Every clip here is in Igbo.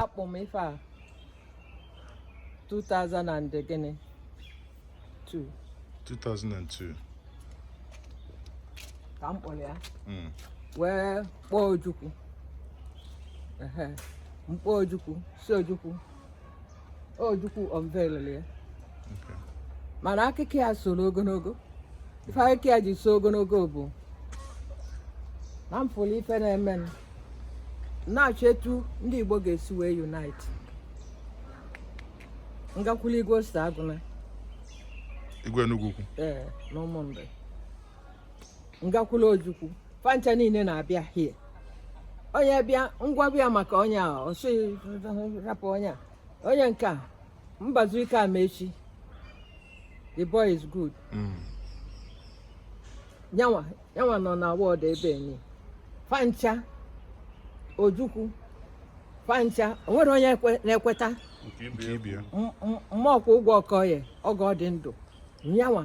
akpọ m ife a 2000 and gịnị 2 2002 ka m kpọrọ ya Mm. wee kpọọ ojukwu ehe m kpọọ ojukwu sị ojukwu Ojukwu unveiled ya mana akụkọ ya soro ogologo ife akụkọ ya ji so ogologo bụ na m fụlụ ife na-eme na-achọ etu ndị Igbo ga-esi wee unite m gakwulu igwe Osita Agwuna igwe Enugwu Ukwu ee na Ụmụnri m gakwulu ojukwu fa ncha niile na-abịa hie onye bịa ngwa bịa maka onye a ọ sị rapụ onye a onye nke a Mbazulike Amechi the boy is good mm. yanwa yanwa nọ na ward ebe anyị fa ncha ojukwu fa ncha o nwere onye na-ekweta Mokwugo Okoye oge ọ dị ndụ yanwa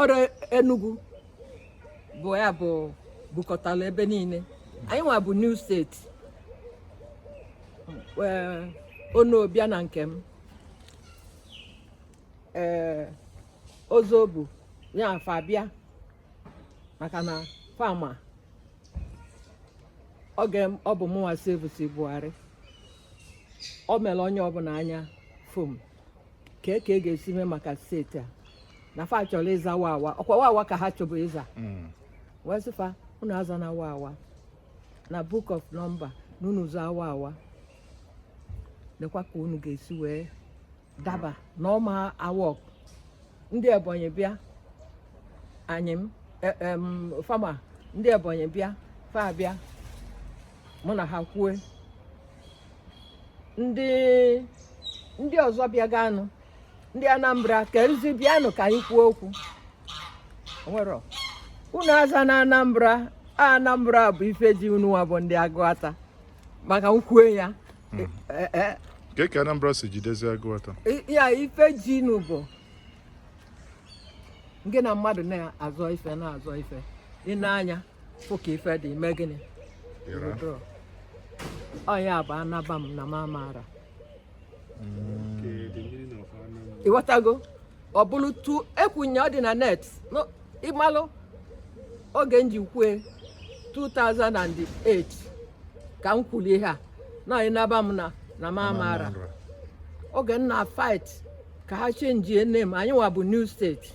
ọrụ Enugu bụ ya bụ bukọtara ebe niile anyị nwa bụ new state ọ na-abịa na nke m ee eh, Ozobu ya fa bịa maka na fa ma oge ọ bụ mụnwa service Buhari o mere onye ọbụla anya fom ka e ka e ga-esi mee maka state a na fa chọrọ ịza Wawa ọ kwa Wawa ka ha chọbụ ịza Mm. wee sị fa unu azana Wawa na book of number na unu zaa Wawa lekwa ka unu ga-esi wee daba na ọma awọk ndị ebonyi bịa anyị m e- em, fa ma ndị ebonyi bịa fa bịa mụ na ha kwue ndị ndị ọzọ bịaganụ ndị Anambra ka nzi bịanụ ka anyị kwuo okwu nwere unu azana Anambra Anambra bụ ife ji unu nwa bụ ndị Aguata maka m kwue ya hmm. e, e, e. ka ka Anambra si jidezi Aguata ya ife ji unu bụ nke na mmadụ na-azọ ife na-azọ ife ị na-anya fụ ka ife dị ime gịnị Ịra. Withdraw. ọ ya bụ anaba m na m amaara Okay, the meaning of Anam. ị ghọtago ọ bụrụ tu ekwunye ọ dị na net No, ị malụ oge m ji kwue 2008 ka m kwuru ihe a na anaba m na na m amaara Nra. oge m na fight ka ha chenjie name anyị nwa bụ new state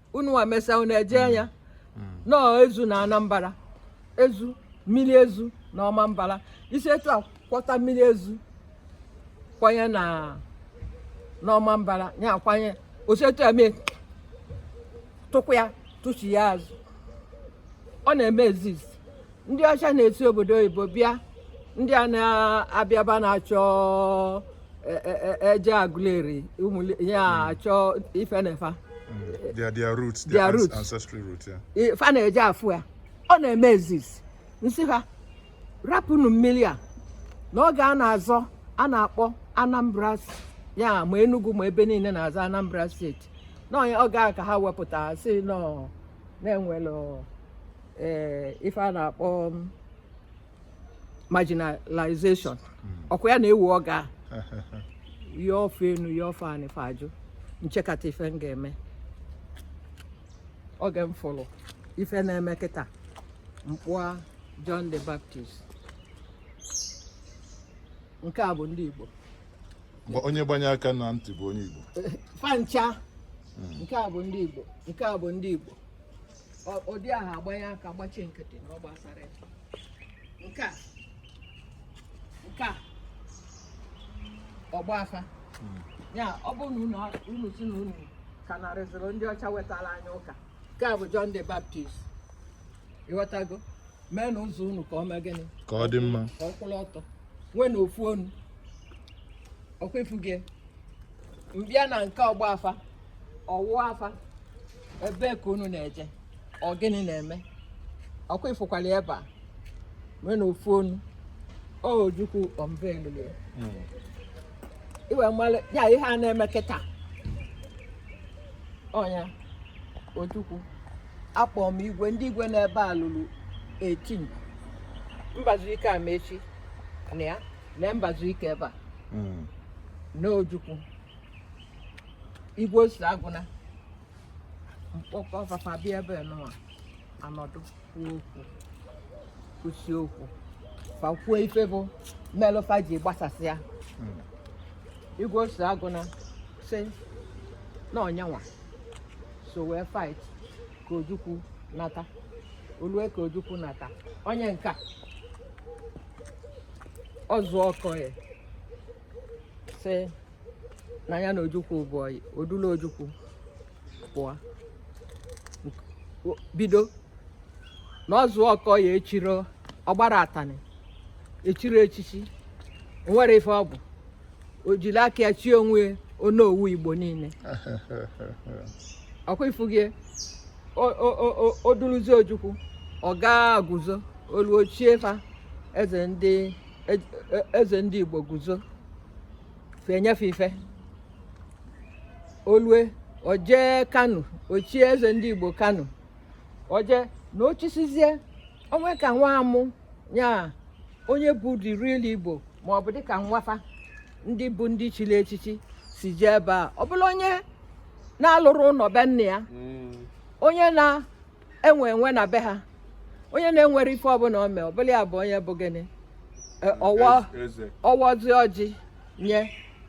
unu nwa mesịa unu eje mm. ya mm. nọọ ezu na Anambara ezu mmiri ezu na Ọmambara i si etu a kwọta mmiri ezu kwanye n'Ọmambara ya akwanye o si etu eme tụkwa ya tụchi ya azụ ọ na-eme ezizi ndị ọcha na-esi obodo oyibo bịa ndị a na-abịaba na-achọ e, e, e, eje Agụleri ya achọ ifenefa fa na-eje afụ ya ọ na-eme ezizi m sị ha rapụnụ mmiri a n'oge a na-azọ a na-akpọ Anambra ya ma Enugu ma ebe niile na-azọ Anambra steeti na ọ nya oge a ka ha wepụta sị na ọ na e nwelụ ee ife a na-akpọ um, marginalization ọ kwa ya na-ewu ọ gaa ya efe enu ya efe anị fa ajụ m chekata ife m ga-eme oge m fụrụ ife na-eme kịta m kpụa John the Baptist nke a bụ ndị Igbo Gba- onye gbanye aka na ntị bụ onye igbo fa ncha nke a bụ ndị Igbo nke a bụ ndị Igbo ụdị ahụ agbanye aka gbachie nkịtị na ọ gbasara nke a nke a ọgba afa hmm. ya ọ bụrụ na unu si na unu ka narịzịrị ndị ọcha wetara anyị ụka nke a bụ John the Baptist ị ghọtago meenụ ụzọ unu ka ọ mee gịnị ka ọ dị mma ka ọ kwụrụ ọtọ nweenụ ofu onu ọ kwa ị fụgo m bịa na nke ọgba afa ọ wụ afa ebe ka unu na-eje ọ gịnị na-eme ọ kwa ị fụkwala ebe a meenụ ofu onu ojukwu ọmbeelule iwe mmalụ ya ihe a na-eme kịta ọ nya Ojukwu akpọ m igwe ndị igwe n'ebe a lulu 18 Mbazuike Amechi na ya na mbazuike ebe a na ojukwu igwe osi agwuna mkpọkọ fa fa bịa ebe nụwa nọdụ kwuo okwu kwusịa okwu fa kwuo ife bụ melu fa ji gbasasịa igwe osi agwuna sị na ọ nyanwa so wee fight ka ojukwu nata olue ka ojukwu nata onye nka ọzụ ọkọ ya sị na ya na Ojukwu bụ ọyị o dulu Ojukwu pụọ bido na ọzụ ọkọ ya echiri ọgbara atani echiri echichi nwere ife ọ bụ o jiri aka ya chie onwe ya onowu igbo niile ọkwa ị fụgo ya o duluzi ojukwu ọ gaa guzo olu ochie fa eze ndị e, e, eze ndị Igbo guzo enyefe ife olue o jee Kano o chie eze ndị Igbo Kano o jee na o chisizie onwe ka nwa amụ ya onye bụ the real Igbo ma ọ bụ dịka nwafa ndị bụ ndị chiri echichi sizie ebe ọ bụla onye na-alụrọ ụnọ be nna ya hmm. onye na enwe enwe na be ha onye na-enwerọ ife ọbụla o mee ọbụla ya bụ onye bụ gịnị E, ọwa Eze. ọwọzi ọjị nye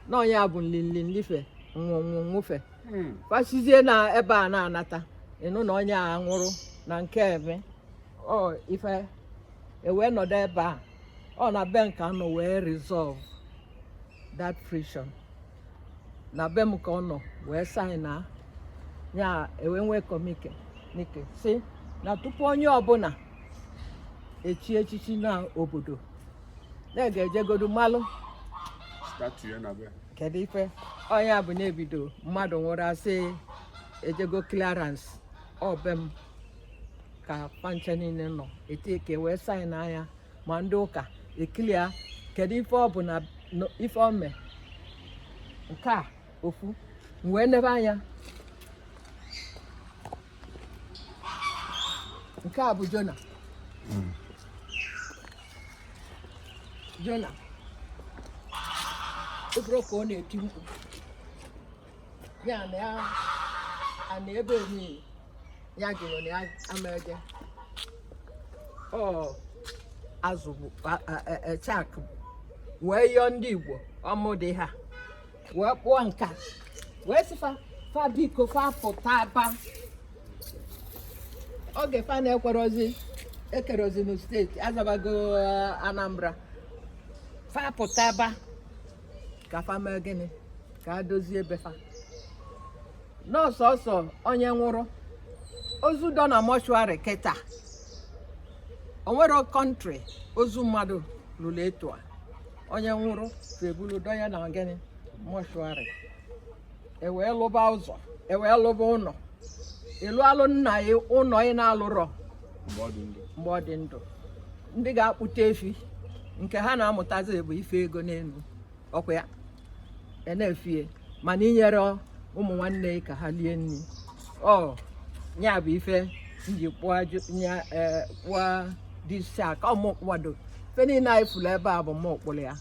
na onye a bụ nlinlinlife nwụnwụ nwụfe Hmm. fa sizie na ebe a na-anata ịnụ na onye a nwụrụ na nke eme ọ ife e wee nọdụ ebe a ọ na be m ka a nọ wee resolve that friction na be m ka ọ nọ wee sign ya e wee nwee communique nke sị na tupu onye ọbụna echi echichi na obodo na ga-ejegodu malụ kedu ife onye bụ na-ebido mmadụ nwụrụ a sị e jego clearance ọ be m ka fa ncha niile nọ e tii aka e wee sign ya ma ndị ụka ekili ya kedu ife ọ bụ na no- ife ọ mee nke a ọ fụ m wee nebe anya nke a bụ jona jona obere ka ọ na-eti mkpu ya na ya ana ebe niile ya jụrụ na ya amaghị ọ azụ bụ chak wee yọọ ndị Igbo ọ mụ du ha wee kpụọ nka wee sị fa fa biko fa pụta aba oge fa na-ekerozi ekerozinu steeti azabago Anambra fa pụta aba ka fa mee gịnị ka a dozie be fa n'ọsọsọ onye nwụrụ ozu dọ na mọshụarị kịta onwerọ kọntrị ozu mmadụ julu etu a onye nwụrụ fa ebulu dọ ya na gịnị mọshụarị ewee lụba ụzọ ewee lụba ụnọ ịlụ alụ nna ya ụnọ ị na-alụrọ mgbe ọ dị ndụ ndị ga-akpụta efi nke ha na-amụtazi bụ ife ego n'enu ọkwa ya e na-efie mana inyere ụmụ nwanne i aka ha lie nni ọ ya bụ ife m ji kpụọ ya, disi aka m kpụwado ife niile anyị fụlụ ebe a bụ mụ kpụlụ ya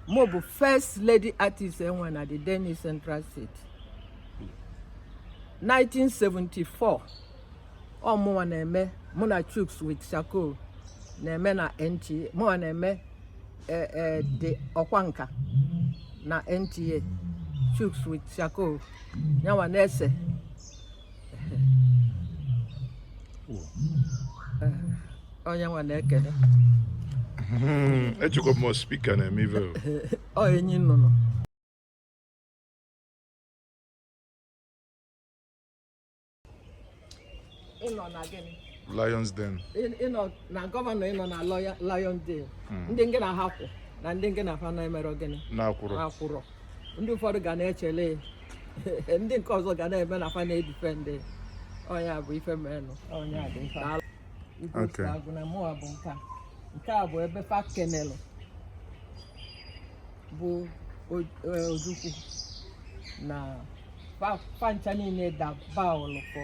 mụ bụ first lady artist e nwe na the then East Central State 1974 ọ mụwa na-eme mụ na Chuks with Shako na-eme na NTA mụwa na-eme eh, eh, the ọkwa nka na NTA Chuks with Shako yanwa na-ese onye nwa na-ekene echekwa m spika na-eme ive ọ anyị na ụnụ ịnọ na gịnị Lions Den ịnọ na gọvanọ ịnọ na Lions Den hmm. ndị nke na-ahapụ na ndị nke na-afa na-emerọ gịnị na-akwụrọ ndị ụfọdụ ga na-echele ndị nke ọzọ ga na-eme na fa na-edifendị onye a bụ ife menụ onye a dị nke a. Igwe Okay. Osita Agwuna mụwa bụ nke a. nke a bụ ebe fa kenelụ bụ O- eh, ojukwu na fa- fa ncha niine dabaụlụ ka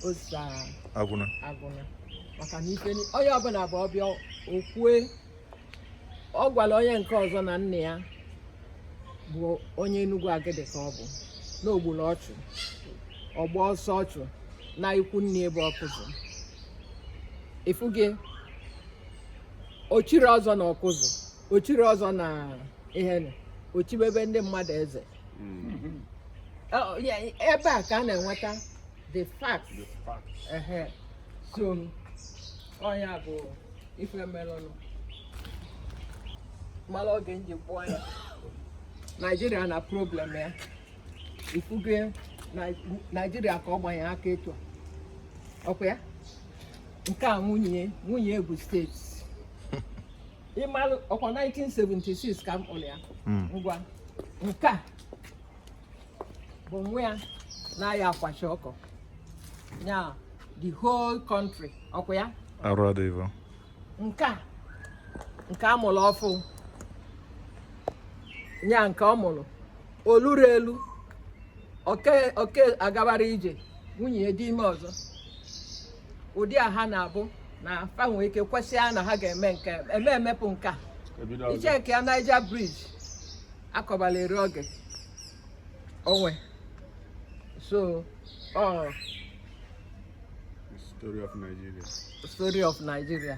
Osita Agwuna Agwuna maka na ife ni- onye ọbụla bụ ọ bịa o kwue ọ gwara onye nke ọzọ na nna ya bụ onye Enugwu Agidi ka ọ bụ na o gburu ọchụ ọ gbaa ọsọ ọchụ na ikwu nne ebe ọkụzụ ifuge o chiri ọzọ na ọkụzụ o chiri ọzọ na ihe o chibebe ndị mmadụ eze hmm. ebe a ka a na-enweta the facts. The facts. Uh-huh. So ọ ya bụ ife melụnụ mara oge m ji kpụọ ya naijiria na problem ya ifuge naijiria ka ọ gbanye aka etu a ọkwa ya nke a nwunye nwunye egwu steeti ị malụ ọkwa 1976 ka m kpụrụ ya hmm. ngwa nke a bụ nwa ya na-aya akwachi ọkụ ya the whole country ọkwa ya arụ adịghị nke a nke a mụrụ ọfụụ ya nke ọ mụrụ oluru elu oke oke agabara ije nwunye dị ime ọzọ ụdị a ha na-abụ na fa nwee ike kwesịa na ha ga-eme nke eme emepụ nke a i checkie ya Niger Bridge akọbala eri oge onwe so ọ story of Nigeria story of Nigeria